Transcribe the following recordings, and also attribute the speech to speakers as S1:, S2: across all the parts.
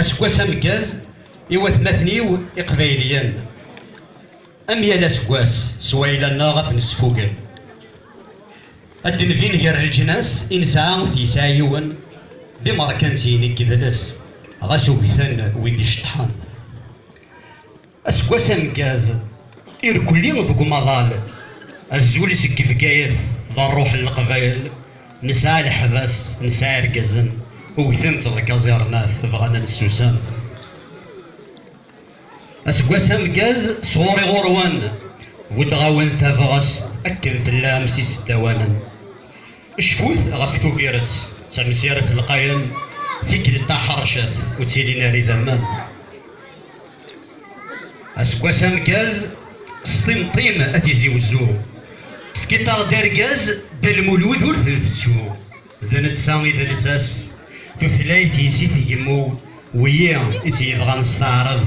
S1: Aseggas ameggaz i watmaten-iw iqbayliyen. Am yal aseggas, s wayla-nneɣ ad ten-sfugel. Ad d-nvin ger leǧnas i nesɛa ur t-yesɛi yiwen, d imerkansiyen i yedles, ɣas ugten wid iceṭṭḥen. Aseggas ameggaz, irkelli deg umaḍal, azul seg Bgayet d rruḥ n leqbayel, nesɛa leḥbas, nesɛa irgazen, ugten-tt deg aẓirnat, bɣan ad nessusem. Aseggas ameggaz, sɣur-i ɣur-wen, buddeɣ-awen tabɣest akken tellam s iseddawanen. Cfut ɣef Tubiret, d tamsirt lqayen, tikkelt taḥercet, ur ttilin ara idammen. aseggas ameggaz s timṭim a tizi wezzu tefkiḍ-aɣ-d argaz Dda Lmulud ur ten-tettu d netta i d lsas tutlayt-is i tgemmu wiyi i tt-yebɣan s taɛrab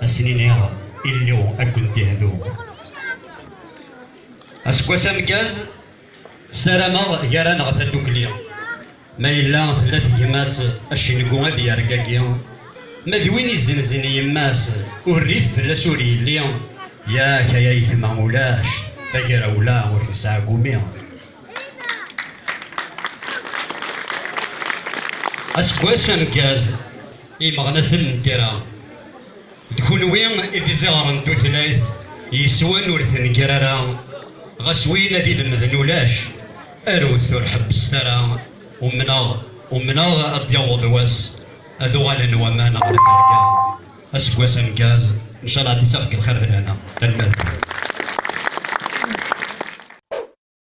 S1: asen-iniɣ illu ad kent-ihdu aseggas ameggaz Sarameɣ gar-aneɣ tadukli. Ma yella tella tegmat, acengu ad yergagi. Ma d win izenzen yemma-s, urrif fell-as ur yelli. Yak ay ayetma ulac tagrawla ur nesɛi gumi. Aseggas ameggaz i yimeɣnasen n tira. D kunwi i d iziɣer n tutlayt yeswan ur tenger ara, ɣas win ad ilemden ulac, arut ur ḥebbset ara, umneɣ, umneɣ ad d-yaweḍ wass ad uɣalen waman ɣer terga, aseggas ameggaz, ncalaɛ ad d-isaf deg lxir d lehna. Tanemmirt.